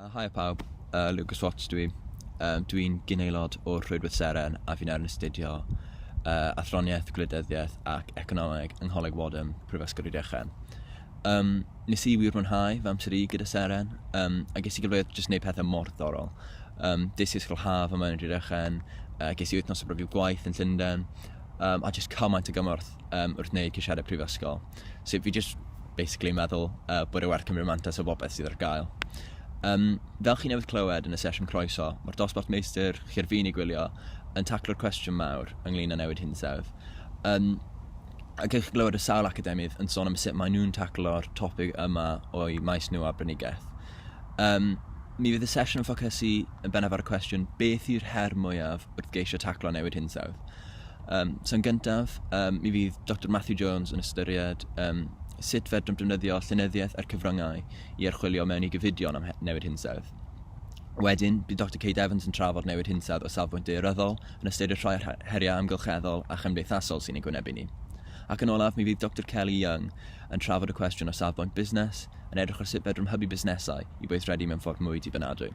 Uh, Haia pawb, uh, Lucas Watts dwi. Um, dwi'n gynaelod o'r Rhwydwaith Seren a fi'n erin astudio uh, athroniaeth, gwleidyddiaeth ac economeg yng Ngholeg Wadham, Prifysgol Rhydychen. Um, nes i wir mwynhau fy amser i gyda Seren, um, a ges i gyfleoedd jyst gwneud pethau mor ddorol. Um, des i ysgol haf yma yn Rhydychen, uh, ges i wythnos o brofiad gwaith yn Llundain, um, a jyst cymaint o gymorth um, wrth wneud ceisiadau prifysgol. So fi jyst basically yn meddwl uh, bod e werth cymryd mantas o bobeth sydd ar gael. Um, fel chi newydd clywed yn y sesiwn croeso, mae'r dosbarth meistr chi ar fin i gwylio yn taclo'r cwestiwn mawr ynglyn â newid hinsawdd. Um, a gwych chi glywed y sawl academydd yn sôn am sut maen nhw'n taclo'r topic yma o'i maes nhw a brynigaeth. Um, mi fydd y sesiwn yn ffocysu yn bennaf ar y cwestiwn beth yw'r her mwyaf wrth geisio taclo newid hinsawdd. Um, so yn gyntaf, um, mi fydd Dr Matthew Jones yn ystyried um, sut fedrwn defnyddio llenyddiaeth a'r cyfryngau i archwilio mewn i gyfidion am newid hinsawdd. Wedyn, bydd Dr Kate Evans yn trafod newid hinsawdd o safbwynt deoryddol, yn ystyried rhai o'r heriau amgylcheddol a chymdeithasol sy'n ei gwynebu ni. Ac yn olaf, mi fydd Dr Kelly Young yn trafod y cwestiwn o safbwynt busnes, yn edrych ar sut fedrwn hybu busnesau i weithredu mewn ffordd mwy dibynadwy.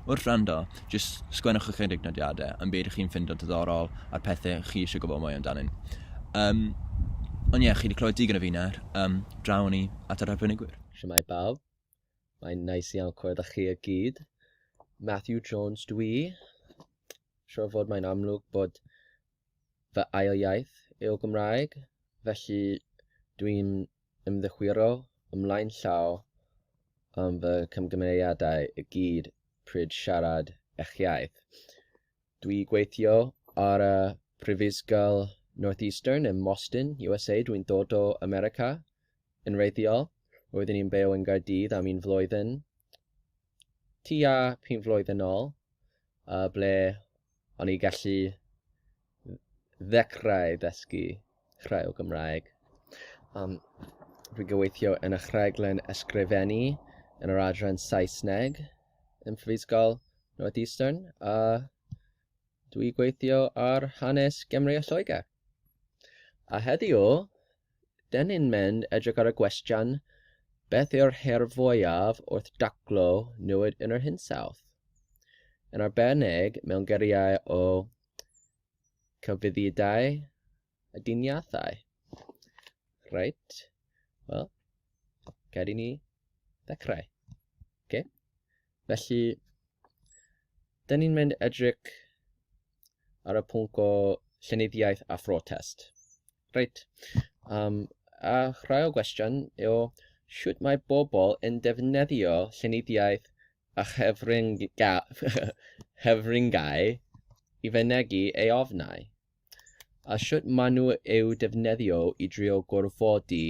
Wrth wrando, jyst sgwennwch ychydig nodiadau am beth ydych chi'n ffindo diddorol a'r pethau chi eisiau gwybod mwy amdanyn. Um, ond ie, yeah, chi wedi clywed digon o fi nawr. Um, draw ni at yr arbenigwyr. Siamai bawb. Mae'n nice iawn clywed â chi y gyd. Matthew Jones dwi. Siwr fod mae'n amlwg bod fy ail iaith yw Gymraeg, felly dwi'n ymddichwiro ymlaen llaw am fy camgymeriadau i gyd pryd siarad eich iaith. Dwi gweithio ar y Prifysgol Northeastern ym Moston, USA. Dwi'n dod o America yn wreiddiol, roeddwn i'n byw yn Nghaerdydd am un flwyddyn tua pum flwyddyn ôl, ble o'n i gallu ddechrau dysgu rhai o Gymraeg. Um, rwy'n gyweithio yn y rhaglen ysgrifennu yn yr adran Saesneg yn Prifysgol North Eastern a dwi gweithio ar hanes Gymru a Lloegr. A heddiw, 'den ni'n mynd edrych ar y gwestiwn, beth yw'r her fwyaf wrth daclo newid yn yr hinsawdd? Yn arbennig mewn geriau o cyfuddidau a diniathau. Reit, wel, gad i ni ddechrau. Okay. Felly, dyn ni'n mynd edrych ar y pwnc o llenyddiaeth a phrotest. Reit, um, a rhai o gwestiwn yw, sut mae bobl yn defnyddio llenyddiaeth a chyfryngau i fynegu ei ofnau? a sut maen nhw eu defnyddio i drio gorfodi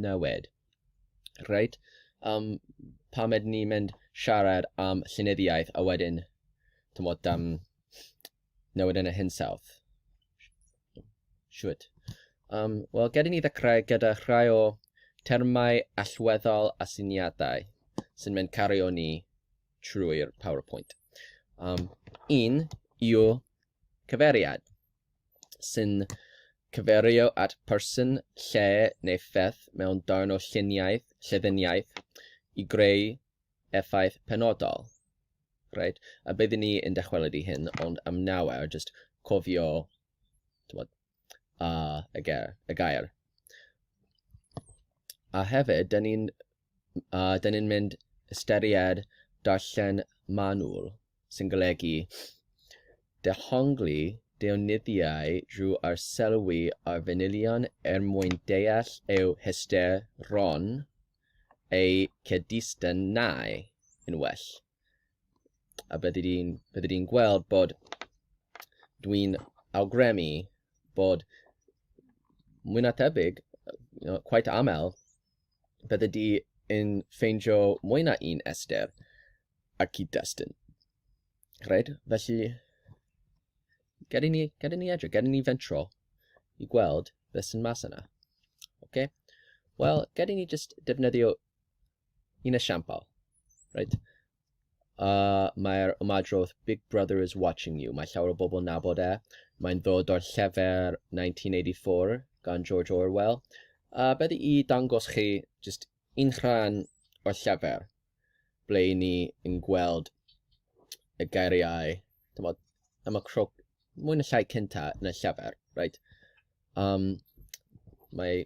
newid. Reit, um, pam ydyn ni'n mynd siarad am llenyddiaeth a wedyn, tymod, um, newid yn y hinsawdd? Siwt. Um, Wel, gyda ni ddechrau gyda rhai o termau allweddol a syniadau sy'n mynd cario ni trwy'r PowerPoint. Um, un yw cyfeiriad, sy'n cyferio at person, lle neu pheth mewn darn o lluniaeth, lleddiniaeth i greu effaith penodol. Right? A byddwn ni yn dychwelyd i hyn, ond am nawr, just cofio tywod, uh, y, gair, y gair. A hefyd, da ni'n a dyn ni'n mynd ystyried darllen manwl, sy'n golygu dehongli deunyddiau drwy arsylwi ar fanylion er mwyn deall eu hysteron a'u cyd-destunau yn well. A byddi di'n byddi di'n gweld bod dwi'n awgrymu bod mwy na tebyg, you know, quite aml, byddi di yn ffeindio mwy na un Esther a cyd-destun. Rhaid, felly, gad i ni, gad i ni edrych, gad i ni fentro i gweld beth sy'n mas yna. Okay? Wel, gad i ni just defnyddio Un esiampl, right? Uh, Mae'r ymadrodd Big Brother is watching you. Mae llawer o bobl yn nabod e. Mae'n ddod o'r llefer 1984 gan George Orwell. Uh, beth i dangos chi just un rhan o'r llefer ble i ni yn gweld y geiriau dymod, am y crwc mwy na llai cynta yn y llefer. Right? Um, mae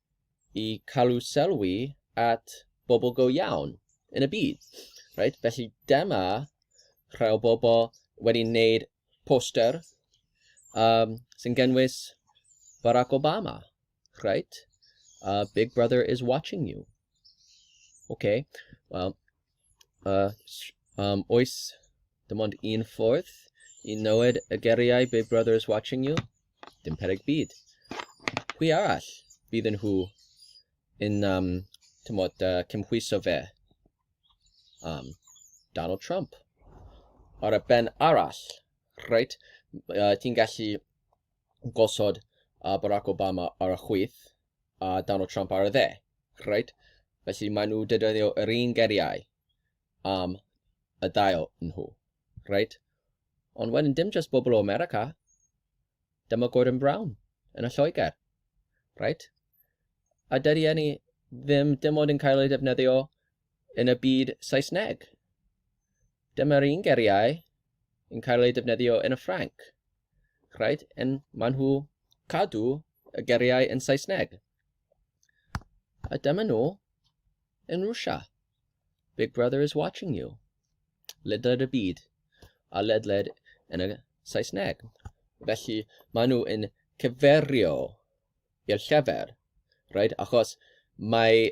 i cael sylwi at bobl go iawn yn y byd. Right? Felly dyma rhai o bobl wedi wneud poster um, sy'n gynnwys Barack Obama. Right? Uh, Big Brother is watching you. Okay. Wel, A um, oes dim ond un ffordd i nywed y geriau Big Brother is watching you? Dim pereg byd. Pwy arall bydd yn nhw yn um, tymod, uh, cymhwyso fe? Um, Donald Trump. Ar y ben arall, right, uh, ti'n gallu gosod uh, Barack Obama ar y chwith a uh, Donald Trump ar y dde. Right? Felly maen nhw dedyddio yr un geriau am y dail nhw. Right? Ond wedyn dim just bobl o America, dyma Gordon Brown yn y Lloegr. Right? A dydy enni ddim dim ond yn cael ei defnyddio yn y byd Saesneg. Dyma'r un geriau yn cael eu defnyddio yn y Ffrainc. Rhaid yn maen nhw cadw y geriau yn Saesneg. A dyma nhw yn Rwsia. Big Brother is watching you. Ledled y byd a ledled yn y Saesneg. Felly maen nhw yn cyferio i'r llefer. Right? Achos mae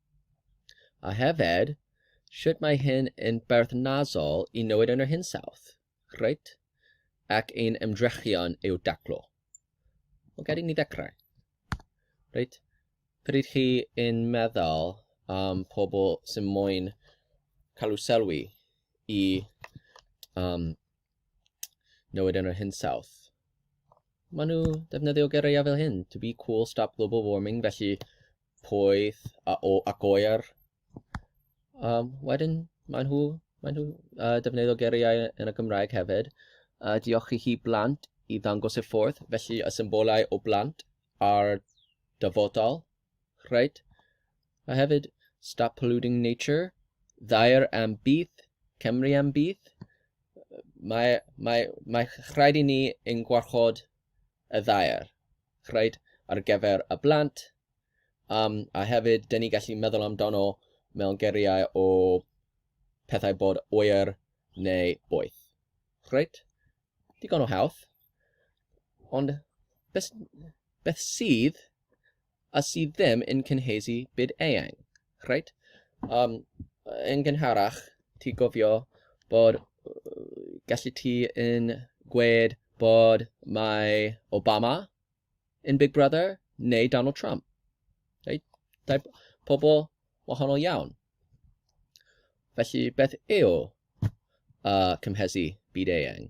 A hefyd, sut mae hyn yn berthnasol i newid yn yr hinsawdd, reit, ac ein ymdrechion i'w daclo. Wel, gad i ni ddechrau. Reit, pryd chi yn meddwl am pobl sy'n moyn cael sylwi i um, newid yn yr hinsawdd, maen nhw defnyddio geiriau fel hyn, to be cool, stop global warming, felly poeth a o, ac oer. Um, wedyn, maen nhw, maen nhw uh, defnyddio geriau yn y Gymraeg hefyd. Uh, diolch i chi blant i ddangos y ffordd, felly y symbolau o blant a'r dyfodol. Rhaid. A hefyd, stop polluting nature, ddair am bydd, Cymru am bydd. Mae, mae, mae rhaid i ni yn gwarchod y ddair. reit, ar gyfer y blant, um, a hefyd, dyn ni gallu meddwl amdano mewn geriau o pethau bod oer neu boeth. Reit, digon o hawdd. Ond beth, beth sydd a sydd ddim yn cynhesu byd eang? Reit. Um, yn gynharach, ti gofio bod gallu ti yn gwed bod mae Obama yn Big Brother neu Donald Trump. Reit? Dau pobl wahanol iawn. Felly beth yw uh, cymhesu byd eang?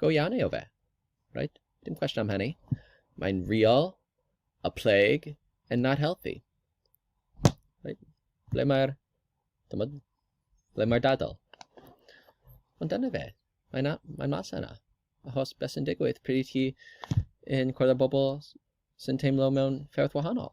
go iawn yw fe. Right? Dim cwestiwn am hynny. Mae'n real, a plague, and not healthy. Right? Ble mae'r... Ble mae'r dadl? Ond dyna fe. Mae'n mae mas yna. Achos beth sy'n digwydd pryd i chi yn cwrdd â bobl sy'n teimlo mewn fferth wahanol.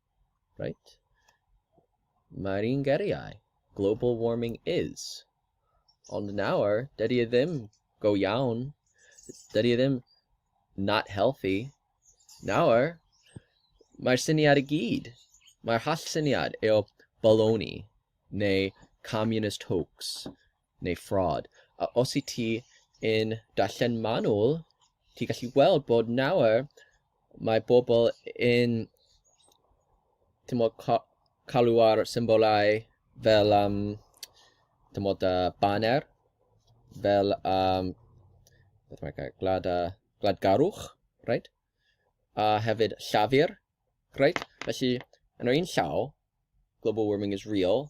Right. Mae'r un geriau. Global warming is. Ond nawr, dydy e ddim go iawn. Dydy e ddim not healthy. Nawr, mae'r syniad i gyd. Mae'r hall syniad eo baloney neu communist hoax neu fraud. A os wyt ti yn darllen manwl, ti'n gallu weld bod nawr mae bobl yn timod, ca- cael ar symbolau fel yym timod, yy baner, fel yym beth mae'r gair, gwlad a gwladgarwch, reit? A hefyd llafur, reit? Felly, yn yr un llaw, global warming is real,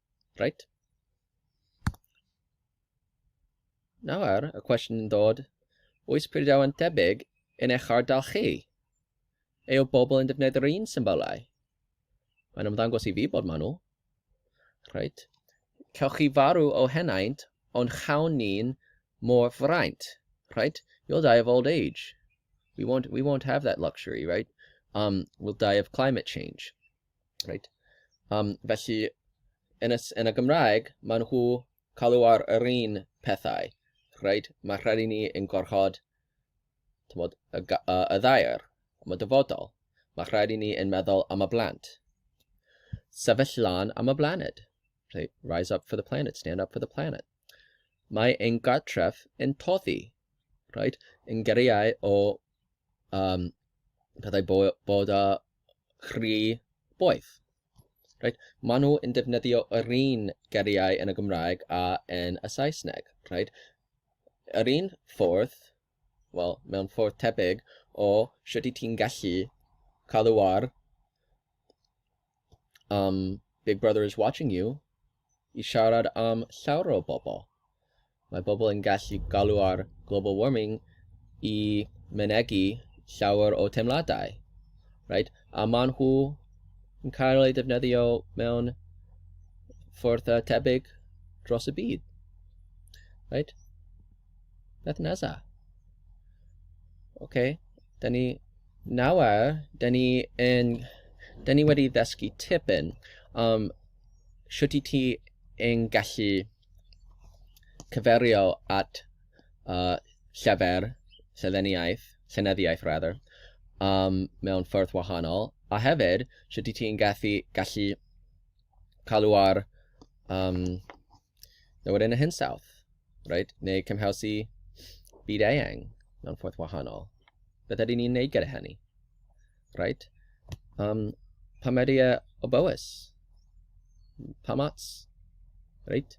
Right? Nawr, y cwestiwn yn dod, oes preidiau'n tebyg yn eich ardal chi? Ei o bobl yn defnyddio'r un symbolau? Mae'n ymddangos i fi bod maen nhw. Right? Cewch chi farw o henaint, ond chawn ni'n mor fraint. Right? You'll die of old age. We won't, we won't have that luxury, right? Um, we'll die of climate change. Right. Um, felly, yn y, yn y Gymraeg, maen nhw cael ar yr un pethau. Right? Mae rhaid i ni yn gorchod tymod, y, y, y ddair am y dyfodol. Mae rhaid i ni yn meddwl am y blant. Sefyll lan am y blaned. Right? Rise up for the planet, stand up for the planet. Mae ein gartref yn toddi. Right? Yn geriau o um, pethau bo bod â chri boeth. Right? Maen nhw yn defnyddio yr un geriau yn y Gymraeg a yn y Saesneg. Right? Yr un ffordd, wel, mewn ffordd tebyg o sut i ti'n gallu cadw ar am Big Brother is Watching You i siarad am llawer o bobl. Mae bobl yn gallu galw ar global warming i mynegi llawer o teimladau. Right? A maen nhw yn cael ei ddefnyddio mewn ffordd uh, tebyg dros y byd. Right? Beth nesa? Okay. Da ni nawr, da ni yn, da ni wedi ddysgu tipyn am shwt i ti yn gallu cyferio at uh, llyfr, llyddeniaeth, llenyddiaeth rather, um, mewn ffyrdd wahanol, a hefyd shwt i ti yn gallu, gallu cael ar um, Nawr wedyn y hinsawdd, right? neu cymhelsi byd eang mewn ffordd wahanol. Beth ydy ni'n neud gyda hynny? Right? Um, pa mae e o bywys? Pa mats? Right?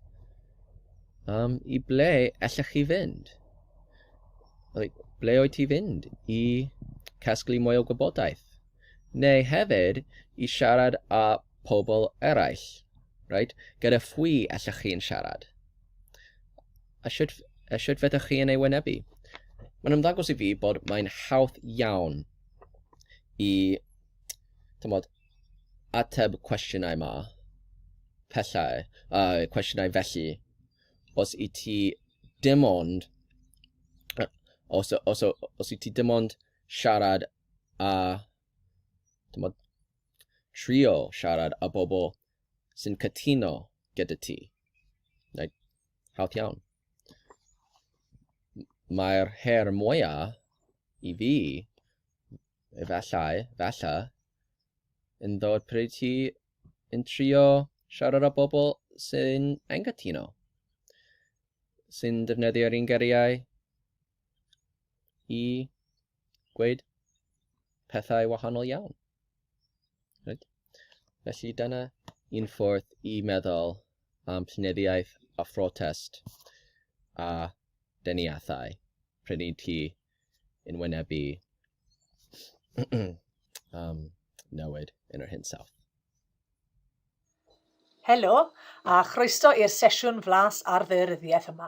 Um, I ble allech chi fynd? Like, ble oed ti fynd i casglu mwy o gwybodaeth? Neu hefyd i siarad â pobl eraill, right? Gyda phwy allwch chi'n siarad? A sut, a sut fedrwch chi yn ei wynebu? Mae'n ymddangos i fi bod mae'n hawdd iawn i tymod, ateb cwestiynau ma, pellau, a uh, cwestiynau felly, os i ti dim ond, os, os, os i ti dim ond siarad a tymod, Trio siarad â bobl sy'n cytuno gyda ti. Neu, hawdd iawn. Mae'r her mwyaf i fi, efallai, falla, yn ddod pryd ti yn trio siarad â bobl sy'n anghytuno, sy'n defnyddio'r un geriau i gweud pethau wahanol iawn. Right? Felly dyna un ffordd i meddwl am llenyddiaeth a phrotest a deniathau pryd i ti yn wynebu um, newid yn yr hinsawdd. Helo, a chroeso i'r sesiwn flas ar ddaearyddiaeth yma.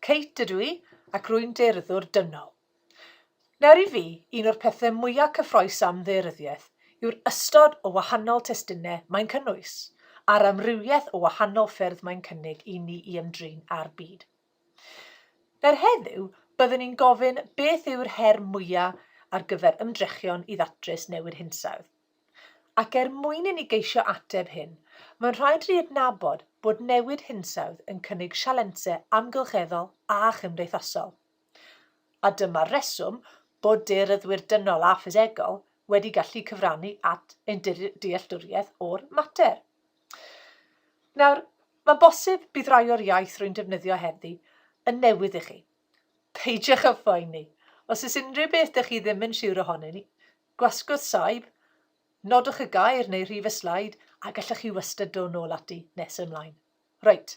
Kate ydw i, ac rwy'n daearyddwr dynol. Nawr i fi, un o'r pethau mwyaf cyffroes am ddaearyddiaeth yw'r ystod o wahanol testunau mae'n cynnwys, a'r amrywiaeth o wahanol ffyrdd mae'n cynnig i ni i ymdrin â'r byd. Nawr heddiw, byddwn i'n gofyn beth yw'r her mwyaf ar gyfer ymdrechion i ddatrys newid hinsawdd. Ac er mwyn i ni geisio ateb hyn, mae'n rhaid i ni adnabod bod newid hinsawdd yn cynnig sialensau amgylcheddol a chymdeithasol. A dyma'r rheswm bod daearyddwyr dynol a ffisegol wedi gallu cyfrannu at ein dealltwriaeth o'r mater. Nawr, mae'n bosib bydd rai o'r iaith rwy'n defnyddio heddi yn newydd i chi. Peidiwch â phoeni. Os oes unrhyw beth dych chi ddim yn siwr ohonyn ni, Gwasgwrdd saib, nodwch y gair neu rhif y sleid a gallwch chi wastad dod nôl ati nes yn ymlaen. Reit,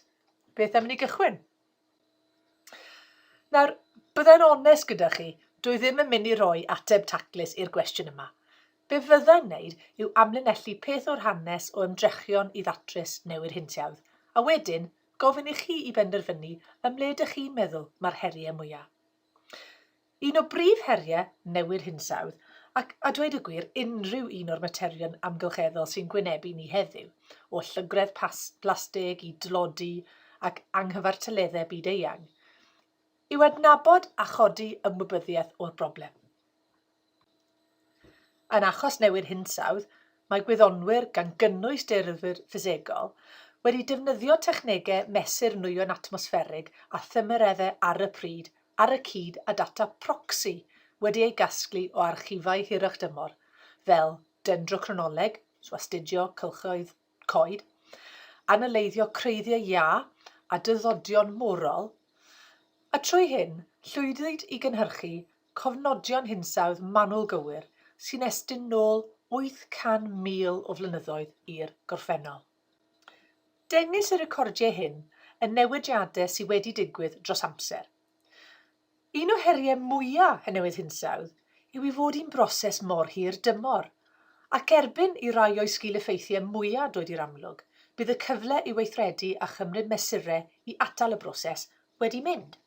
beth am ni gychwyn? Nawr, byddai'n onest gyda chi, dwi ddim yn mynd i roi ateb taclus i'r gwestiwn yma. Be fyddai'n wneud yw amlinellu peth o'r hanes o ymdrechion i ddatrys newid hinsawdd, a wedyn gofyn i chi i benderfynu ym mhle dych chi'n meddwl mae'r heriau mwyaf. Un o brif heriau newid hinsawdd, ac, a dweud y gwir, unrhyw un o'r materion amgylcheddol sy'n gwynebu ni heddiw, o llygredd plastig i dlodi ac anghyfartaleddau byd-eang, yw adnabod a chodi ymwybyddiaeth o'r broblem. Yn achos newid hinsawdd, mae gwyddonwyr, gan gynnwys dearthwyr ffisegol, wedi defnyddio technegau mesur nwyon atmosfferig a thymereddau ar y pryd ar y cyd â data proxy wedi ei gasglu o archifau hirach-dymor, fel dendrochronoleg, so astudio cylchoedd coed, analyddio creiddiau iâ a dyddodion morol, a trwy hyn, llwyddwyd i gynhyrchu cofnodion hinsawdd manwl gywir sy'n estyn nôl 800,000 o flynyddoedd i'r gorffennol. Dengys y recordiau hyn y newidiadau sydd wedi digwydd dros amser, Un o heriau mwyaf y newid hinsawdd yw ei fod hi'n broses mor hir dymor, ac erbyn i rai o'i sgil-effeithiau mwyaf droed i'r amlwg, bydd y cyfle i weithredu a chymryd mesurau i atal y broses wedi mynd.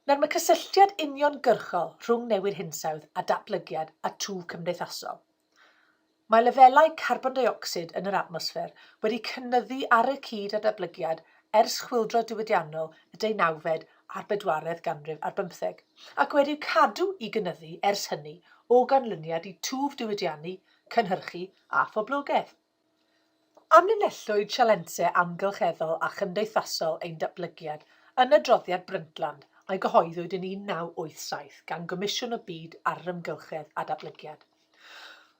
Nawr, mae cysylltiad uniongyrchol rhwng newid hinsawdd a datblygiad a twf cymdeithasol. Mae lefelau carbon deuocsid yn yr atmosffer wedi cynyddu ar y cyd â datblygiad ers chwyldro diwydiannol y deunawfed a'r bedwaredd ganrif ar bymtheg, ac wedi cadw i gynyddu ers hynny o ganlyniad i twf diwydiannu, cynhyrchu a phoblogaeth. Amlinellwyd sialensau amgylcheddol a chymdeithasol ein datblygiad yn adroddiad Brundtland a gyhoeddwyd yn 1987 gan Gomisiwn y Byd ar yr Amgylchedd a Datblygiad.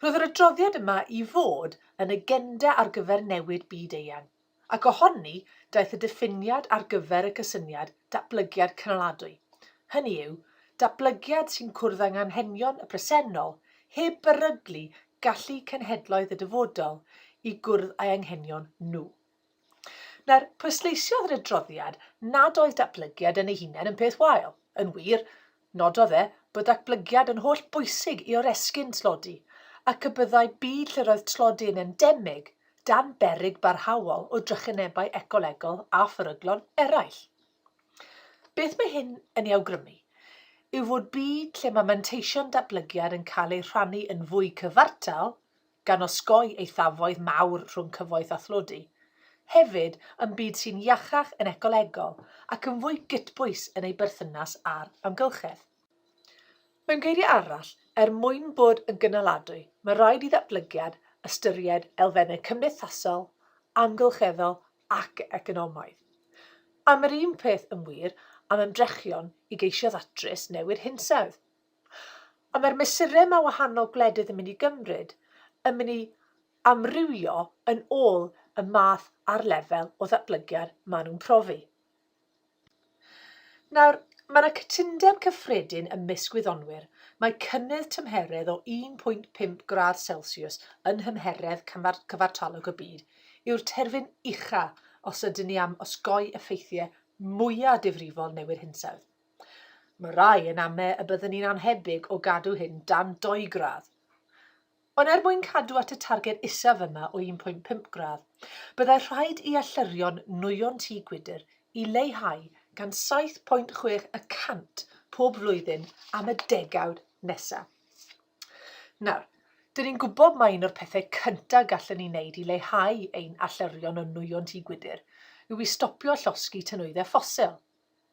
Roedd yr adroddiad yma i fod yn agenda ar gyfer newid byd eang, Ac o honni daeth y diffiniad ar gyfer y cysyniad 'datblygiad cynaladwy', hynny yw, datblygiad sy'n cwrdd â nghanghenion y presennol heb beryglu gallu cenhedloedd y dyfodol i gwrdd â'i anghenion nhw. Nawr, pwysleisiodd yr adroddiad nad oedd datblygiad yn ei hunain yn peth wael. Yn wir, Nododd e bod datblygiad yn holl bwysig i oresgyn tlodi ac y byddai byd lle roedd tlodi yn endemig dan beryg barhaol o drychinebau ecolegol a pheryglon eraill. Beth mae hyn yn ei awgrymu yw fod byd lle mae manteision datblygiad yn cael eu rhannu yn fwy cyfartal gan osgoi eithafoedd mawr rhwng cyfoeth a thlodi. Hefyd, yn byd sy'n iachach yn ecolegol ac yn fwy gytbwys yn ei berthynas â'r amgylchedd. Mewn geiriau arall, er mwyn bod yn gynaladwy, mae rhaid i ddatblygiad ystyried elfennau cymdeithasol, amgylcheddol ac economaidd. Am yr un peth yn wir am ymdrechion i geisio ddatrys newid hinsawdd. Ond mae'r mesurau mae wahanol gwledydd yn mynd i gymryd yn mynd i amrywio yn ôl y math a'r lefel o ddatblygiad maen nhw'n profi. Nawr, mae yna cytundeb cyffredin ymysg gwyddonwyr mae cynnydd tymheredd o 1.5 gradd Celsius yn nhymheredd cyfartalog y byd yw'r terfyn ucha os ydyn ni am osgoi effeithiau mwyaf difrifol newid hinsawdd. Mae rhai yn ame y byddwn ni'n annhebyg o gadw hyn dan dou gradd. Ond er mwyn cadw at y targed isaf yma o 1.5 gradd, byddai rhaid i allyrion nwyon tŷ gwydr i leihau gan 7.6 y cant pob flwyddyn am y degawd nesaf. Nawr, dyn ni'n gwybod mai un o'r pethau cyntaf gallwn ni wneud i leihau ein allyrion o nwyon tŷ gwydr yw i stopio llosgi tynwyddau ffosil.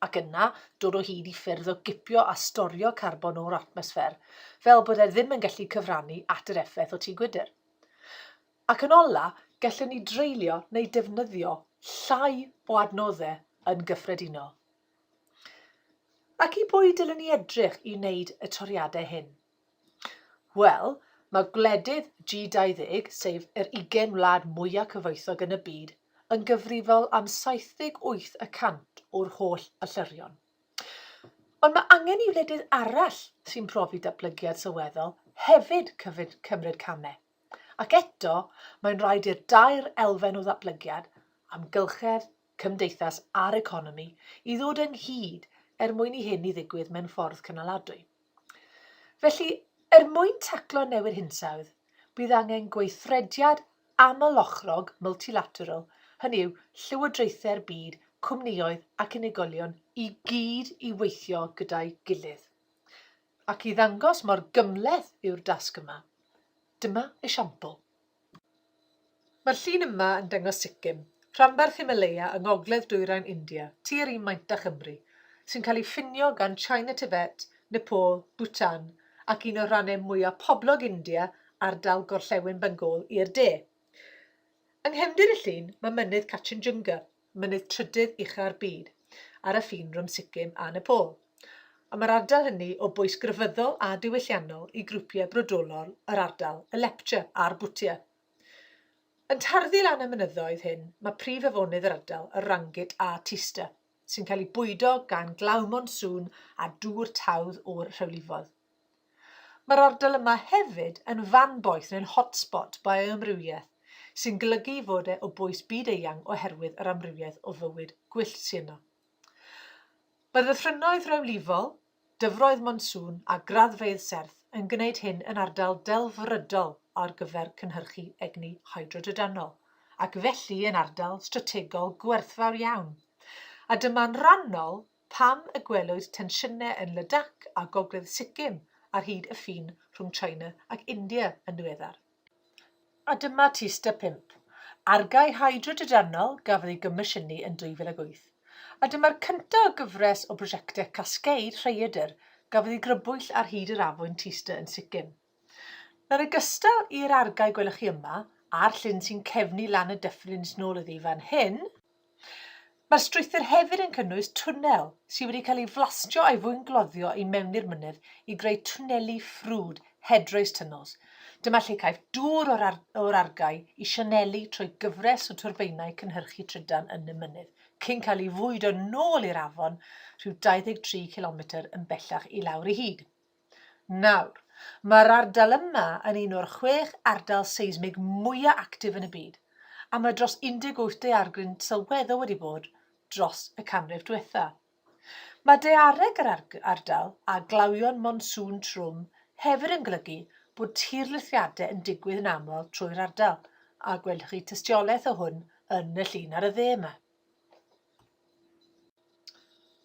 ac yna dod o hyd i ffyrdd o gipio a storio carbon o'r atmosffer, fel bod e ddim yn gallu cyfrannu at yr effaith o tŷ gwydr. Ac yn ola, gallwn ni dreulio neu defnyddio llai o adnoddau yn gyffredinol. Ac i bwy dylwn ni edrych i wneud y toriadau hyn? Wel, mae gwledydd G20, sef yr 20 wlad mwyaf cyfoethog yn y byd, yn gyfrifol am 78 y cant o'r holl allyrion. Ond mae angen i wledydd arall sy'n profi datblygiad sylweddol hefyd cymryd camau. Ac eto, mae'n rhaid i'r dair elfen o ddatblygiad, amgylchedd, cymdeithas a'r economi i ddod ynghyd er mwyn i hyn i ddigwydd mewn ffordd cynaladwy. Felly, er mwyn taclo newid hinsawdd, bydd angen gweithrediad amlochrog multilateral, hynny yw, llywodraethau'r byd, cwmnïoedd ac unigolion i gyd i weithio gyda'i gilydd. Ac i ddangos mor gymhleth yw'r dasg yma, dyma esiampl. Mae'r llun yma yn dangos Sikkim, rhanbarth Himalaya yng ngogledd dwyrain India, tua'r un maint â Chymru, sy'n cael ei ffinio gan China Tibet, Nepal, Bhutan ac un o'r rannau mwyaf poblog India, ardal Gorllewin Bengal, i'r de. Yng nghefndir y llun mae mynydd Kachinjunga, mynydd trydydd ucha'r byd, ar y ffin rhwng Sikkim a Nepal, a mae'r ardal hynny o bwys grefyddol a diwylliannol i grwpiau brodorol yr ardal, y Lepcha a'r Bhutia. Yn tarddu lan y mynyddoedd hyn, mae prif afonydd yr ardal, y Rangit a Teesta, sy'n cael eu bwydo gan glaw monsŵn a dŵr tawdd o'r rhewlifoedd. Mae'r ardal yma hefyd yn fan boeth neu'n hotspot bioamrywiaeth, sy'n golygu ei fod e o bwys byd-eang oherwydd yr amrywiaeth o fywyd gwyllt sy' yno. Mae ddyffrynnoedd rhewlifol, dyfroedd monsŵn a graddfeydd serth yn gwneud hyn yn ardal delfrydol ar gyfer cynhyrchu egni hydrodrydanol, ac felly yn ardal strategol gwerthfawr iawn, a dyma'n rhannol Pam y gwelwyd tensiynau yn Ladakh a gogledd Sikkim ar hyd y ffin rhwng China ac India yn ddiweddar? A dyma tyst a phump. Argae hydrodrydanol gafodd ei gomisiynu yn 2008, a dyma'r cyntaf o gyfres o brosiectau cascade rhaeadr gafodd ei grybwyll ar hyd yr afwyn Tysta yn Sikkim. Nawr yn gystal i'r argae gwelwch chi yma, a'r llyn sy'n cefnu lan y dyffryn sy'n ôl iddi fan hyn, mae'r strwythur hefyd yn cynnwys twnnel sydd wedi cael ei flastio a'i fwyngloddio i mewn i'r mynydd i greu twnneli ffrwd, headrace tunnels. Dyma lle caiff dŵr o'r, ar o'r argae i sianelu trwy gyfres o twrbeinau cynhyrchu trydan yn y mynydd, cyn cael ei fwydo nôl i'r afon rhyw 23 cilometr yn bellach i lawr i hyd. Nawr, mae'r ardal yma yn un o'r chwech ardal seismig mwyaf actif yn y byd, a mae dros 18 daeargryn sylweddol wedi bod dros y canrif diwetha'. Mae daeareg yr ardal a glawion monsŵn trwm hefyd yn golygu bod tirlithriadau yn digwydd yn aml trwy'r ardal, a gwelwch chi tystiolaeth o hwn yn y llun ar y dde yma.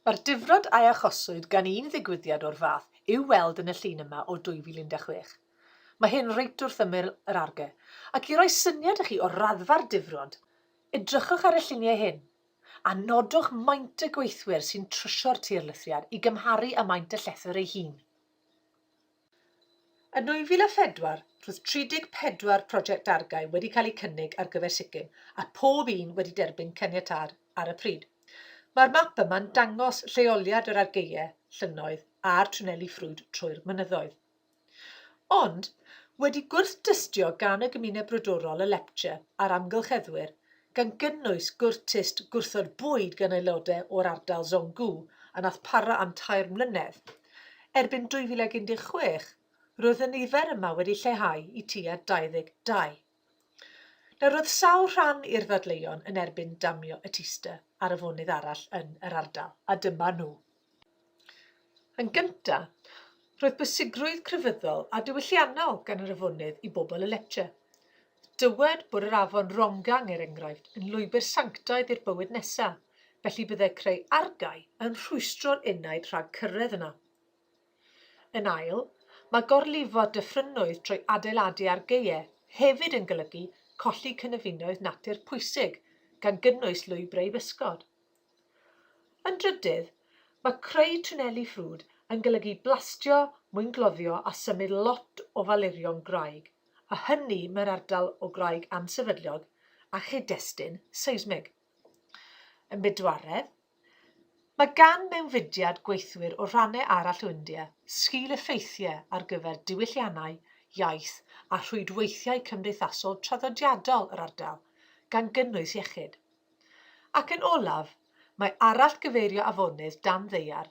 Mae'r difrod a achoswyd gan un ddigwyddiad o'r fath i'w weld yn y llun yma o 2016. Mae hyn reit wrth ymyl yr ARGE, ac i roi syniad i chi o'r raddfa'r difrod, edrychwch ar y lluniau hyn, a nodwch maint y gweithwyr sy'n trysio'r tirlithriad i gymharu â maint y llethr ei hun. Yn 2004, roedd 34 project dargau wedi cael eu cynnig ar gyfer Sikkim a phob un wedi derbyn caniatâd ar y pryd. Mae'r map yma'n dangos lleoliad yr argaeau, llynnoedd a'r twneli ffrwd trwy'r mynyddoedd. Ond, wedi gwrth-dystio gan y gymuned brodorol y Lepcha a'r amgylcheddwyr, gan gynnwys gwrtist gwrthod bwyd gan aelodau o'r ardal Zhonggu a wnaeth para am tair mlynedd. Erbyn 2016, roedd y nifer yma wedi lleihau i tua 22. Nawr, roedd sawl rhan i'r ddadleuon yn erbyn damio y Teaster ar afonydd arall yn yr ardal, a dyma nhw. Yn gyntaf, roedd bwysigrwydd crefyddol a diwylliannol gan yr afonydd i bobl y Lecce. Dywed bod yr afon Rongang, er enghraifft, yn lwybr sanctaidd i'r bywyd nesaf, felly byddai creu argae yn rhwystro'r enaid rhag cyrraedd yna. Yn ail, mae gorlifo dyffrynnoedd trwy adeiladu argaeau hefyd yn golygu colli cynefinoedd natur pwysig, gan gynnwys lwybrau i bysgod. Yn drydydd, mae creu twnneli ffrwd yn golygu blastio, mwyngloddio a symud lot o falurion gwraig, a hynny mewn ardal o graig ansefydlog a chyd-destun seismig. Yn bedwaredd, mae gan mewnfudiad gweithwyr o rhannau arall o India sgil-effeithiau ar gyfer diwylliannau, iaith a rhwydweithiau cymdeithasol traddodiadol yr ardal, gan gynnwys iechyd. Ac yn olaf, mae arallgyfeirio afonydd dan ddaear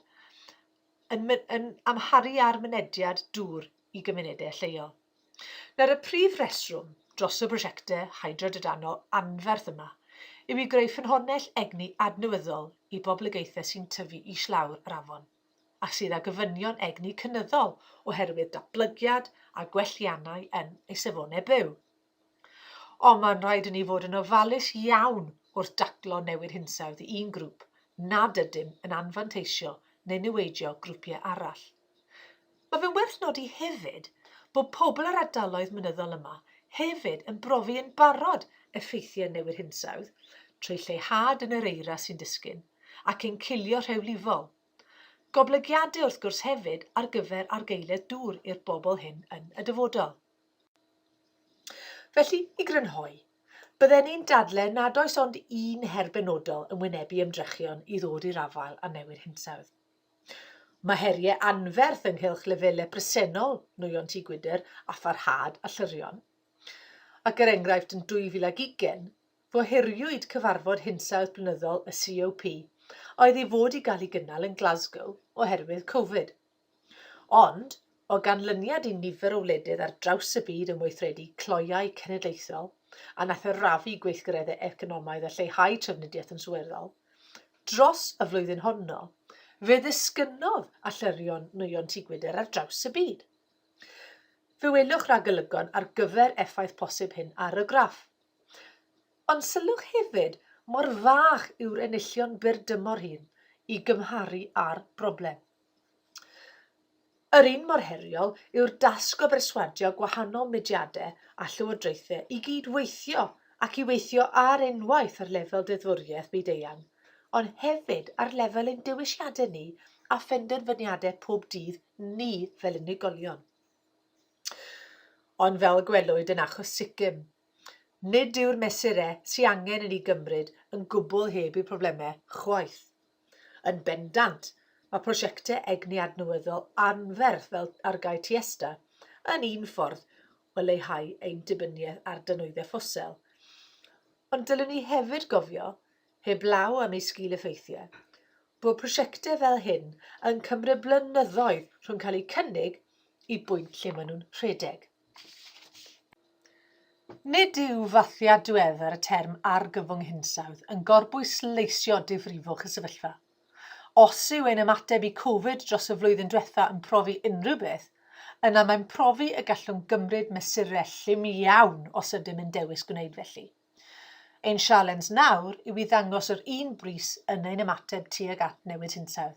yn yn amharu ar mynediad dŵr i gymunedau lleol. Nawr, y prif reswm dros y prosiectau hydro-drydanol anferth yma yw i greu ffynhonnell egni adnewyddol i boblogaethau sy'n tyfu islawr yr afon a sydd â gofynion egni cynyddol oherwydd datblygiad a gwelliannau yn eu safonau byw. Ond mae'n rhaid i ni fod yn ofalus iawn wrth daclo newid hinsawdd i un grŵp nad ydym yn anfanteisio neu niweidio grwpiau arall. Mae fe'n werth nodi hefyd bod pobl yr ardaloedd mynyddol yma hefyd yn brofi yn barod effeithiau newid hinsawdd trwy lleihad yn yr eira sy'n disgyn ac ein cilio rhewlifol. Goblygiadau wrth gwrs hefyd ar gyfer argaeledd dŵr i'r bobl hyn yn y dyfodol. Felly, i grynhoi, bydden i'n dadle nad oes ond un her benodol yn wynebu ymdrechion i ddod i'r afael â newid hinsawdd. Mae heriau anferth ynghylch lefelau presennol nwyon tŷ gwydr a pharhad a llyrion. Ac er enghraifft yn 2020, fo heriwyd cyfarfod hinsawdd blynyddol y COP a oedd i fod i gael ei gynnal yn Glasgow oherwydd Covid. Ond, o ganlyniad i nifer o wledydd ar draws y byd yn weithredu cloeau cenedlaethol a nathrafu gweithgareddau economaidd a lleihau trafnidiaeth yn sylweddol dros y flwyddyn honno, fe ddisgynnodd allyrio'n nwyon tŷ gwydr ar draws y byd. Fe welwch ragolygon ar gyfer effaith posib hyn ar y graff. Ond sylwch hefyd mor fach yw'r enillion byr dymor hyn i gymharu â'r broblem. Yr un mor heriol yw'r dasg o berswadio gwahanol mudiadau a llywodraethau i gyd-weithio ac i weithio ar unwaith ar lefel deddfwriaeth byd-eang, ond hefyd ar lefel ein dewisiadau ni a phenderfyniadau pob dydd ni fel unigolion. Ond fel y gwelwyd yn achos Sikkim, nid yw'r mesurau sy'n angen i ni gymryd yn gwbl heb eu problemau chwaith. Yn bendant, mae prosiectau egni adnewyddol anferth fel Argae Tiesta yn un ffordd o leihau ein dibyniaeth ar dynwyddau ffosil. Ond dylwn ni hefyd gofio, heblaw am eu sgil-effeithiau, bod prosiectau fel hyn yn cymryd blynyddoedd rhwng cael eu cynnig i bwynt lle maen nhw'n rhedeg. Nid yw fathiad diweddar y term 'argyfwng hinsawdd' yn gorbwysleisio difrifwch y sefyllfa. Os yw ein ymateb i Covid dros y flwyddyn diwetha' yn profi unrhyw beth, yna mae'n profi y gallwn gymryd mesurau llym iawn os ydym yn dewis gwneud felly. Ein sialens nawr yw i ddangos yr un brys yn ein ymateb tuag at newid hinsawdd.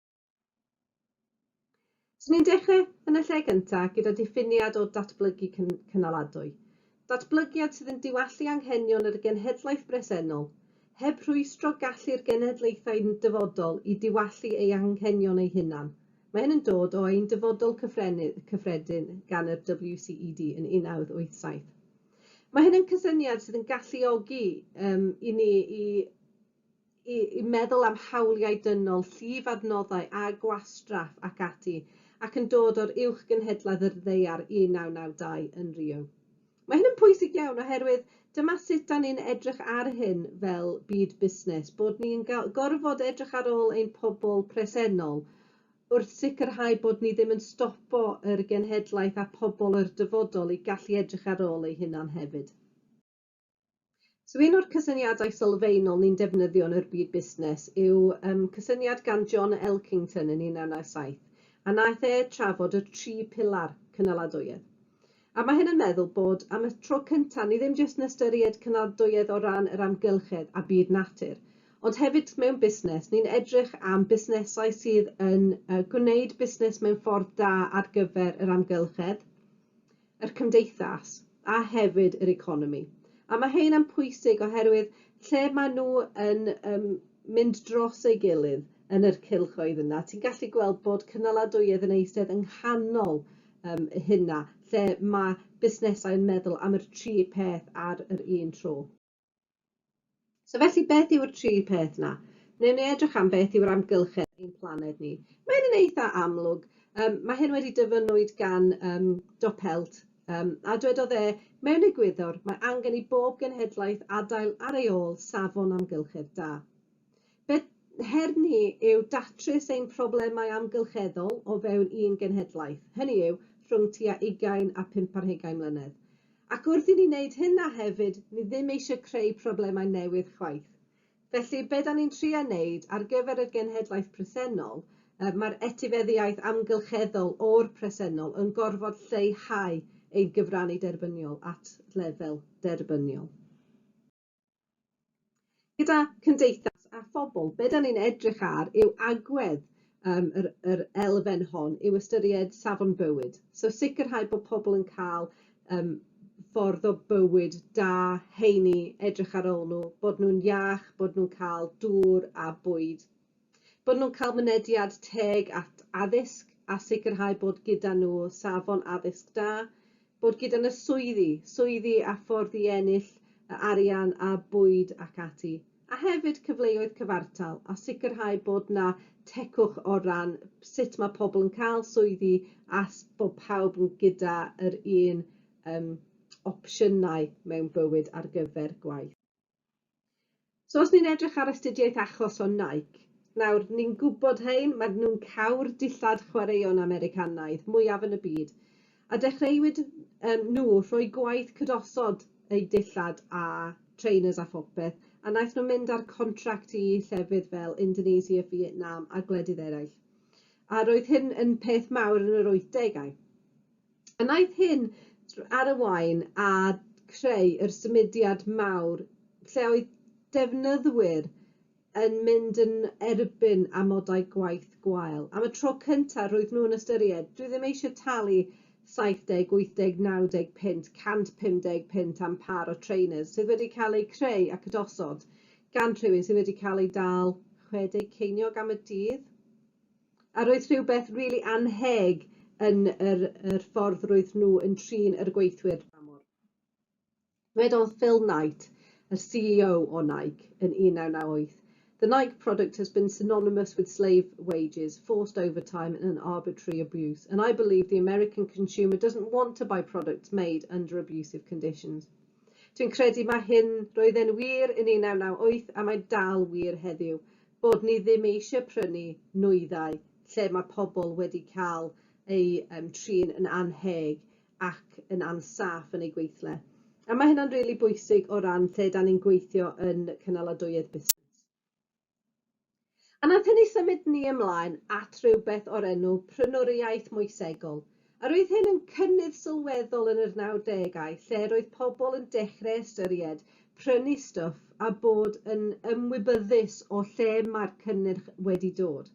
So ni'n dechrau yn y lle gyntaf gyda diffiniad o datblygu cynaladwy. Datblygiad sydd yn diwallu anghenion yr genhedlaeth bresennol, heb rhwystro gallu'r genhedlaethau dyfodol i diwallu ei anghenion eu hunan. Mae hyn yn dod o ein Dyfodol Cyffredin gan yr WCED yn 1987. Mae hyn yn cysyniad sydd yn galluogi um, i ni i i i meddwl am hawliau dynol, llif adnoddau a gwastraff ac ati, ac yn dod o'r Uwch Gynhedlaeth yr Ddaear 1992 yn Rio. Mae hyn yn pwysig iawn oherwydd dyma sut da ni'n edrych ar hyn fel byd busnes, bod ni'n gorfod edrych ar ôl ein pobl presennol wrth sicrhau bod ni ddim yn stopo yr genhedlaeth a pobl yr dyfodol i gallu edrych ar ôl eu hunan hefyd. So un o'r cysyniadau sylfaenol ni'n defnyddio yn yr byd busnes yw um, cysyniad gan John Elkington yn 1997, a naeth e trafod y tri pilar cynaladwyedd. A mae hyn yn meddwl bod am y tro cyntaf ni ddim jyst yn ystyried cynaladwyedd o ran yr amgylchedd a byd natur, ond hefyd mewn busnes, ni'n edrych am busnesau sydd yn uh, gwneud busnes mewn ffordd da ar gyfer yr amgylchedd, yr cymdeithas a hefyd yr economi. A mae hyn yn pwysig oherwydd lle maen nhw yn um, mynd dros ei gilydd yn yr cylchoedd yna, ti'n gallu gweld bod cynaladwyedd yn eistedd yng nghanol um, hynna, lle mae busnesau yn meddwl am yr tri peth ar yr un tro. So felly beth yw'r tri peth 'na? Newn ni edrych am beth yw'r amgylchedd ein planed ni. Mae hyn yn eitha amlwg. Um, mae hyn wedi dyfynwyd gan um, Dopelt, um, a dwedodd e, mewn egwyddor, mae angen i bob genhedlaeth adael ar ei ôl safon amgylchedd da. Beth her ni yw datrys ein problemau amgylcheddol o fewn un genhedlaeth, hynny yw, rhwng tua ugain a phump ar hugain mlynedd. Ac wrth i ni wneud hynna hefyd, ni ddim eisiau creu problemau newydd chwaith. Felly, be' 'dan ni'n trio wneud ar gyfer y genhedlaeth presennol, yy mae'r etifeddiaeth amgylcheddol o'r presennol yn gorfod lleihau ein cyfrannu derbyniol at lefel derbyniol. Gyda cymdeithas a phobl, be dan ni'n edrych ar yw agwedd um, yr, yr elfen hon, yw ystyried safon bywyd. So sicrhau bod pobl yn cael um, ffordd o bywyd da, heini, edrych ar ôl nhw, bod nhw'n iach, bod nhw'n cael dŵr a bwyd Bod nhw'n cael mynediad teg at addysg a sicrhau bod gyda nhw safon addysg da, bod gyda nhw swyddi, swyddi a ffordd i ennill y arian a bwyd ac ati, a hefyd cyfleoedd cyfartal a sicrhau bod na tecwch o ran sut mae pobl yn cael swyddi a bod pawb yn gyda yr un um, opsiynau mewn bywyd ar gyfer gwaith. So os ni'n edrych ar astudiaeth achos o Nike, nawr ni'n gwybod hein, maen nhw'n cau'r dillad chwaraeon Americanaidd mwyaf yn y byd, a dechreuwyd um, nhw rhoi gwaith cydosod eu dillad a trainers a phopeth, a wnaeth nhw mynd ar contract i llefydd fel Indonesia, Vietnam a gwledydd eraill. A roedd hyn yn peth mawr yn yr 80au. A wnaeth hyn ar y waun a chreu yr symudiad mawr lle oedd defnyddwyr yn mynd yn erbyn amodau gwaith gwael. Am y tro cyntaf roedd nhw yn ystyried, dwi ddim eisiau talu 70, 80, 90 punt, 150 punt am pâr o trainers sydd wedi cael eu creu ac ydosod gan rhywun sydd wedi cael ei dal 60 ceiniog am y dydd. A roedd rhywbeth rili annheg yn yr yr ffordd roedd nhw yn trin yr gweithwyr dramor. Dwedodd Phil Knight, yr CEO o Nike, yn 1998, The Nike product has been synonymous with slave wages, forced overtime and arbitrary abuse, and I believe the American consumer doesn't want to buy products made under abusive conditions. Dwi'n credu mae hyn, roedd e'n wir yn 1998 a mae'n dal wir heddiw, bod ni ddim eisiau prynu nwyddau lle mae pobl wedi cael eu um, trin yn annheg ac yn ansaff yn eu gweithle. A mae hynna'n rili really bwysig o ran lle da ni'n gweithio yn cynaladwyedd busnes. A wnaeth hynny symud ni ymlaen at rywbeth o'r enw 'prynwriaeth moesegol', a roedd hyn yn cynnydd sylweddol yn yr nawdegau lle roedd pobl yn dechreu ystyried prynu stwff a bod yn ymwybyddus o lle mae'r cynnyrch wedi dod.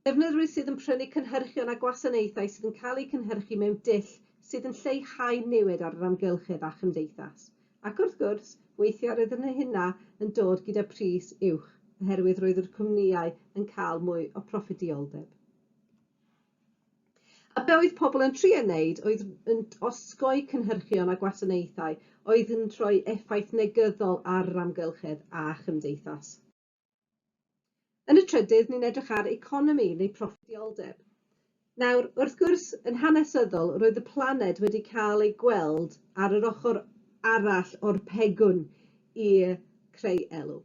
Defnyddwyr sydd yn prynu cynhyrchion a gwasanaethau sydd yn cael eu cynhyrchu mewn dull sydd yn lleihau niwed ar yr amgylchedd a chymdeithas. Ac wrth gwrs, weithiau roedd yn hynna yn dod gyda pris uwch oherwydd roedd yr cwmnïau yn cael mwy o proffidioldeb. A be oedd pobl yn trio wneud oedd yn osgoi cynhyrchion a gwasanaethau oedd yn rhoi effaith negyddol ar yr amgylchedd a chymdeithas. Yn y trydydd, ni'n edrych ar economi neu proffidioldeb. Nawr, wrth gwrs, yn hanesyddol, roedd y planed wedi cael ei gweld ar yr ochr arall o'r pegwn i creu elw.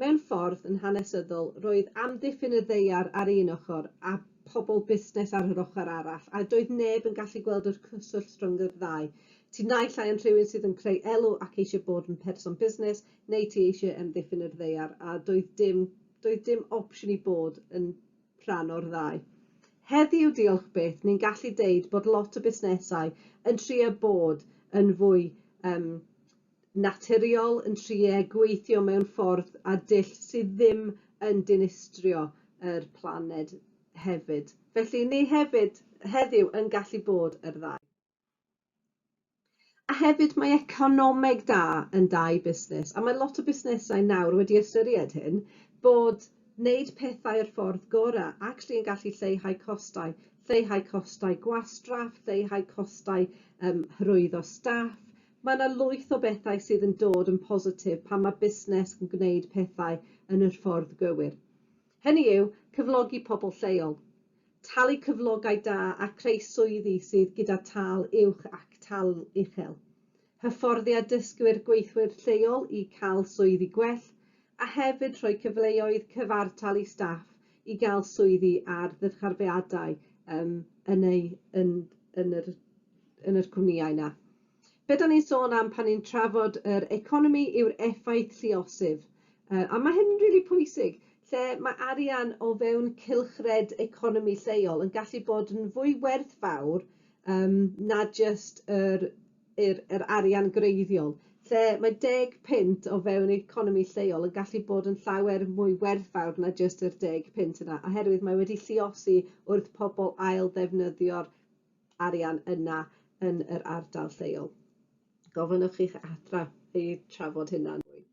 Mewn ffordd, yn hanesyddol, roedd amddiffyn y ddaear ar un ochr a phobl busnes ar yr ochr arall, a doedd neb yn gallu gweld yr cyswllt rhwng yr ddau. Ti naill ai yn rhywun sydd yn creu elw ac eisiau bod yn person busnes, Neu ti eisiau amddiffyn yr ddaear a doedd dim, doedd dim opsiwn i bod yn rhan o'r ddau. Heddiw, diolch byth, ni'n gallu deud bod lot o busnesau yn trio bod yn fwy um, naturiol, yn trio gweithio mewn ffordd a dull sydd ddim yn dinistrio yr planed hefyd. Felly, ni hefyd heddiw yn gallu bod yr ddau. A hefyd mae economeg da yn da i busnes a mae lot o busnesau nawr wedi ystyried hyn bod wneud pethau yr ffordd gora actually yn gallu lleihau costau, lleihau costau gwastraff, lleihau costau yym hyrwyddo staff. Mae 'na lwyth o bethau sydd yn dod yn positif pan mae busnes yn gwneud pethau yn yr ffordd gywir. Hynny yw cyflogi pobl lleol. talu cyflogau da a creu swyddi sydd gyda tâl uwch ac tâl uchel, hyfforddiad dysgwyr gweithwyr lleol i cael swyddi gwell, a hefyd rhoi cyfleoedd cyfartal i staff i gael swyddi ar ddyrcharfeadau yn eu yn yn yr yn yr cwmnïau 'na. be' 'dan ni'n sôn am pan ni'n trafod yr economi yw'r effaith lluosif yy a ma' hyn rili pwysig lle ma' arian o fewn cylchred economi lleol yn gallu bod yn fwy werthfawr yym na jyst yr yr yr arian gwreiddiol lle mae deg punt o fewn economi lleol yn gallu bod yn llawer mwy werthfawr na jyst yr deg punt yna oherwydd mae wedi lluosi wrth pobol ail ddefnyddio'r arian yna yn yr ardal lleol. Gofynnwch i'ch athro chi trafod hynna'n fwy.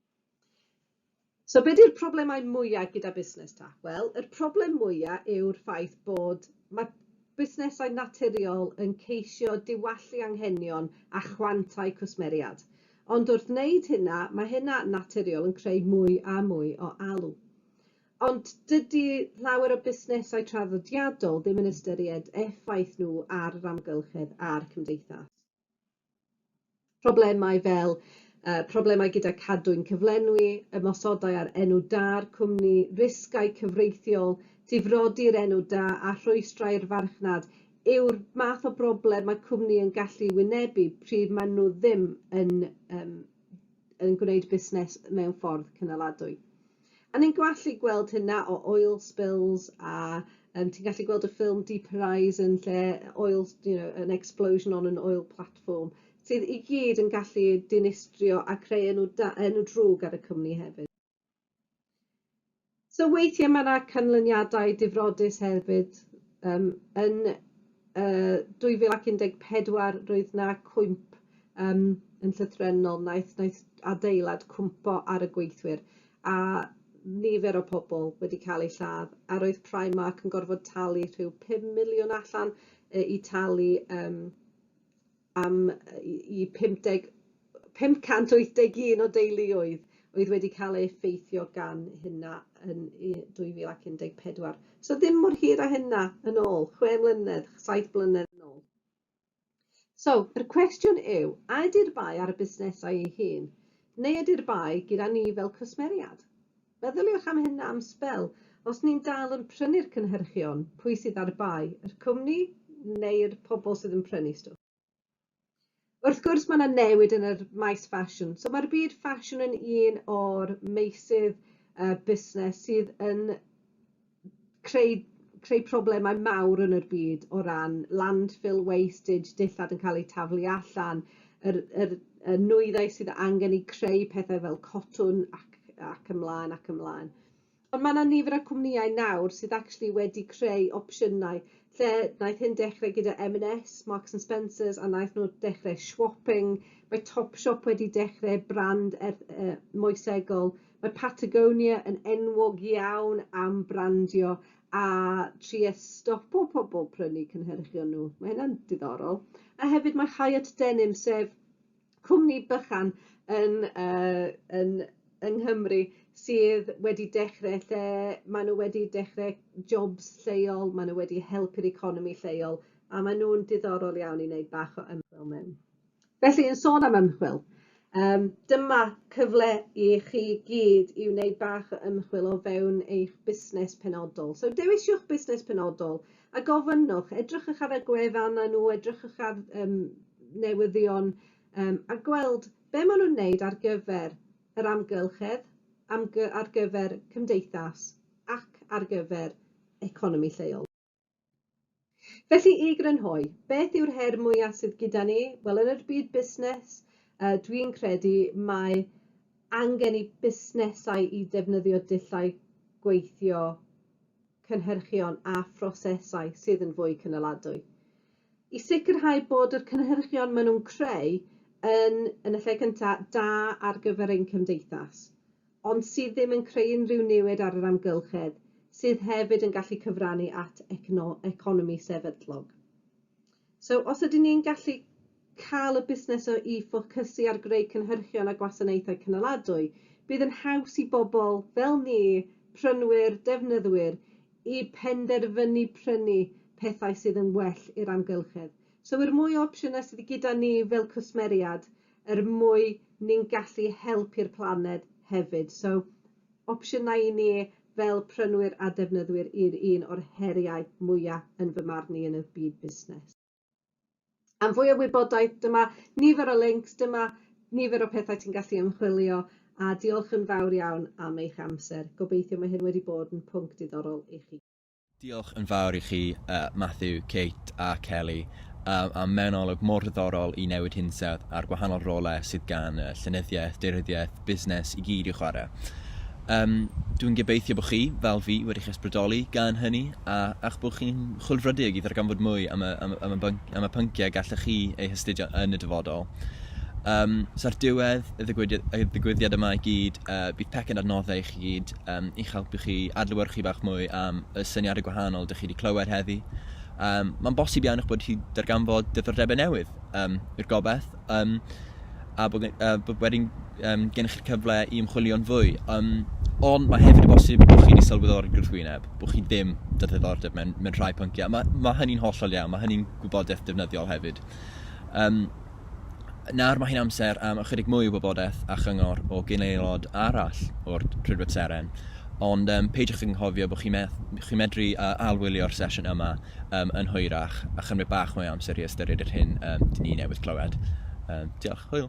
So be di'r problemau mwyaf gyda busnes ta? Wel, yr problem mwyaf yw'r ffaith bod mae busnesau naturiol yn ceisio diwallu anghenion a chwantau cwsmeriad. Ond wrth wneud hynna, mae hynna naturiol yn creu mwy a mwy o alw. Ond dydi llawer o busnesau traddodiadol ddim yn ystyried effaith nhw ar yr amgylchedd a'r cymdeithas. Problemau fel uh, problemau gyda cadwyn cyflenwi, ymosodau ar enw da'r cwmni, risgau cyfreithiol, difrodi'r enw da a rhwystrau'r farchnad yw'r math o broblem mae cwmni yn gallu wynebu pryd maen nhw ddim yn, um, yn gwneud busnes mewn ffordd cynaladwy. A ni'n gallu gweld hynna o oil spills a yym ti'n gallu gweld y ffilm Deep Horizon lle oil s- you know an explosion on an oil platform sydd i gyd yn gallu dinistrio a creu enw da- enw drwg ar y cwmni hefyd. So weithie ma' 'na canlyniadau difrodus hefyd yym yn uh, 2014 roedd na cwymp um, yn llythrennol, naeth, naeth adeilad cwmpo ar y gweithwyr a nifer o pobl wedi cael eu lladd a roedd Primark yn gorfod talu rhyw 5 miliwn allan uh, i talu um, am yy i 50 581 o deuluoedd oedd wedi cael ei effeithio gan hynna yn u- 2014. So ddim mor hir â hynna yn ôl, chwe mlynedd, saith blynedd yn ôl. So, yr cwestiwn yw, a ydi'r bai ar y busnesau ei hun, neu ydi'r bai gyda ni fel cwsmeriad? Meddyliwch am hyn am sbel. Os ni'n dal yn prynu'r cynhyrchion, pwy sydd ar bai, yr cwmni neu'r pobl sydd yn prynu stwff? Wrth gwrs mae yna newid yn yr maes ffasiwn. So mae'r byd ffasiwn yn un o'r meysydd uh, busnes sydd yn creu creu problemau mawr yn yr byd o ran landfill wastage, dillad yn cael eu taflu allan, yr yr y nwyddau sydd angen i creu pethau fel cotwm ac ac ymlaen ac ymlaen. Ond ma' 'na nifer o cwmnïau nawr sydd actually wedi creu opsiynau lle naeth hyn dechre gyda em yn es, Marks and Spencers a naeth nw dechre swopping, mae Topshop wedi dechre brand erth- yy moesegol Mae Patagonia yn enwog iawn am brandio a trio stopo pobl prynu cynhyrchion nhw. Mae hynna'n diddorol. A hefyd mae Hyatt Denim, sef cwmni bychan yn uh, yn yng Nghymru sydd wedi dechrau lle maen nhw wedi dechrau jobs lleol, maen nhw wedi helpu'r economi lleol, a maen nhw'n diddorol iawn i wneud bach o ymchwil mewn. Felly, yn sôn am ymchwil, um, dyma cyfle i chi gyd i wneud bach o ymchwil o fewn eich busnes penodol. So, dewisiwch busnes penodol a gofynnwch, edrychwch ar y gwefannau nhw, edrychwch ar um, newyddion um, a gweld be maen nhw'n wneud ar gyfer yr amgylchedd, amgy ar gyfer cymdeithas ac ar gyfer economi lleol. Felly, i grynhoi, beth yw'r her mwyaf sydd gyda ni? Wel, yn yr byd busnes, uh, dwi'n credu mae angen i busnesau i defnyddio dullau gweithio cynhyrchion a phrosesau sydd yn fwy cynaladwy. I sicrhau bod yr cynhyrchion maen nhw'n creu yn, yn y lle cyntaf, da ar gyfer ein cymdeithas. ond sydd ddim yn creu unrhyw niwed ar yr amgylchedd, sydd hefyd yn gallu cyfrannu at economi sefydlog. So, os ydyn ni'n gallu cael y busnes o i ffocysu ar greu cynhyrchion a gwasanaethau cynaladwy, bydd yn haws i bobl fel ni, prynwyr, defnyddwyr, i penderfynu prynu pethau sydd yn well i'r amgylchedd. So, yr mwy o opsiynau sydd gyda ni fel cwsmeriad, er mwy ni'n gallu helpu'r planed hefyd. So, opsiynau i ni fel prynwyr a defnyddwyr yw'r un o'r heriau mwya' yn fy marn i yn y byd busnes. Am fwy o wybodaeth, dyma nifer o lincs, dyma nifer o pethau ti'n gallu ymchwilio, a diolch yn fawr iawn am eich amser. Gobeithio mae hyn wedi bod yn pwnc diddorol i chi. Diolch yn fawr i chi, Matthew, Kate a Kelly, am mewn olwg mor ddiddorol i newid hinsawdd a'r gwahanol rolau sydd gan y llenyddiaeth, daearyddiaeth, busnes i gyd i'w chwarae. Um, dwi'n gobeithio bod chi, fel fi, wedi'ch ysbrydoli gan hynny a, a'ch bod chi'n chwilfrydig i ddarganfod mwy am y, am, am y, bync, am y pynciau gallech chi eu hastudio yn y dyfodol. Um, so ar diwedd y ddigwyddiad, y ddigwyddiad yma i gyd, uh, bydd pecyn adnoddau i gyd um, i'ch helpu chi adlewyrchu bach mwy am y syniadau gwahanol dych chi wedi clywed heddi. Um, Mae'n bosib iawn eich bod chi darganfod diddordebau newydd um, i'r gobaith, um, a bod, uh, bod wedyn um, gennych chi'r cyfle i ymchwilio'n fwy. Um, ond mae hefyd y bosib bod chi wedi sylweddoli gwrthwyneb, bod chi ddim dy ddiddordeb mewn, mewn rhai pynciau. Mae, mae hynny'n hollol iawn, mae hynny'n gwybodaeth defnyddiol hefyd. Um, nawr mae hi'n amser am ychydig mwy o wybodaeth a chyngor o gyn-aelod arall o'r Rhydweb Seren, ond um, peidiwch ag anghofio bod chi, me chi medru uh, alwylio'r sesiwn yma um, yn hwyrach a chymryd bach mwy o amser i ystyried yr hyn um, dyn ni newydd clywed. Um, diolch, hwyl!